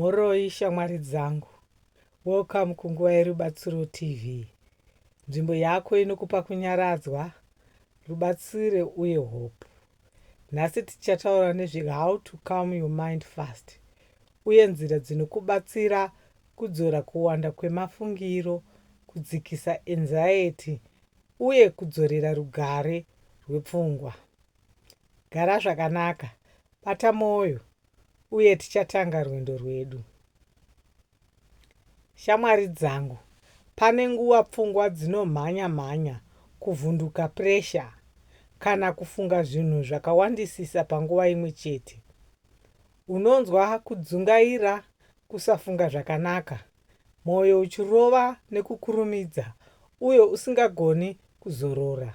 Mhoroi shamwari dzangu. Welcome ku Nguva yeRubatsiro TV. Nzvimbo yako inokupa kunyaradzwa, rubatsire uye hope. Nhasi tichataura nezve how to calm your mind fast uye nzira dzinokubatsira kudzora kuwanda kwemafungiro, kudzikisa anxiety uye kudzorera rugare rwepfungwa. Gara zvakanaka, bata moyo uye tichatanga rwendo rwedu. Shamwari dzangu, pane nguva pfungwa dzinomhanya mhanya, kuvhunduka, pressure, kana kufunga zvinhu zvakawandisisa panguva imwe chete. Unonzwa kudzungaira, kusafunga zvakanaka, moyo uchirova nekukurumidza uye usingagoni kuzorora.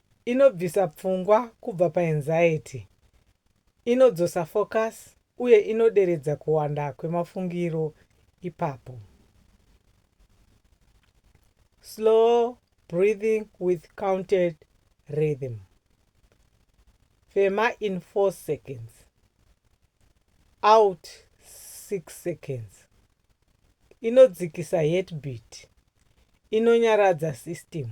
Inobvisa pfungwa kubva paanxiety, inodzosa focus uye inoderedza kuwanda kwemafungiro ipapo. Slow breathing with counted rhythm. Fema in 4 seconds. Out 6 seconds. Inodzikisa heartbeat. Inonyaradza system.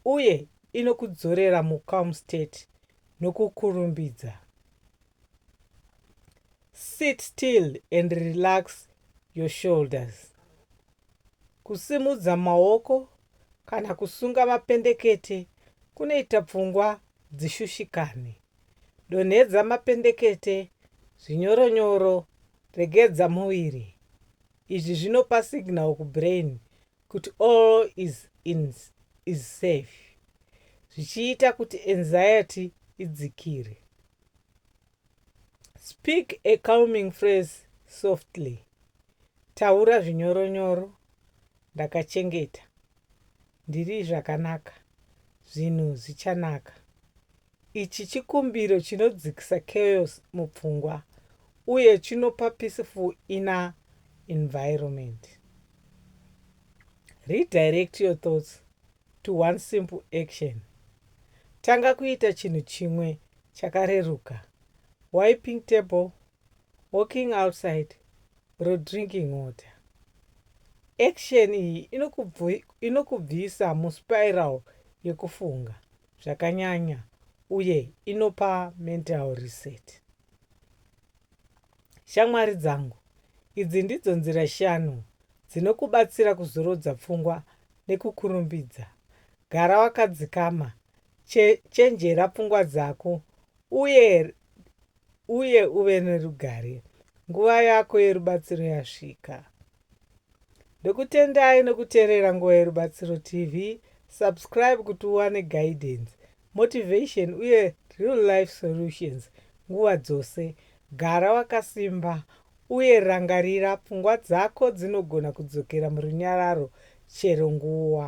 uye inokudzorera mucalm state nokukurumbidza. Sit still and relax your shoulders. Kusimudza maoko kana kusunga mapendekete kunoita pfungwa dzishushikane. Donhedza mapendekete zvinyoronyoro, regedza muviri. Izvi zvinopa signal kubrain kuti all is in is safe zvichiita kuti anxiety idzikire. Speak a calming phrase softly. Taura zvinyoronyoro. Ndakachengeta. Ndiri zvakanaka. Zvinhu zvichanaka. Ichi chikumbiro chinodzikisa chaos mupfungwa uye chinopa peaceful inner environment. Redirect your thoughts to one simple action. Tanga kuita chinhu chimwe chakareruka. Wiping table, walking outside, or drinking water. Action iyi inokubvisa muspiral yekufunga. zvakanyanya uye inopa mental reset. Shamwari dzangu, idzi ndidzo nzira shanu dzinokubatsira kuzorodza pfungwa nekukurumbidza. Gara wakadzikama, che, chenjera pfungwa dzako uye uye uve nerugare. Nguva yako yerubatsiro yasvika. Ndokutendai nokuterera Nguva yeRubatsiro TV, subscribe kuti uwane guidance, motivation uye real life solutions nguva dzose. Gara wakasimba uye rangarira pfungwa dzako dzinogona kudzokera murunyararo chero nguva.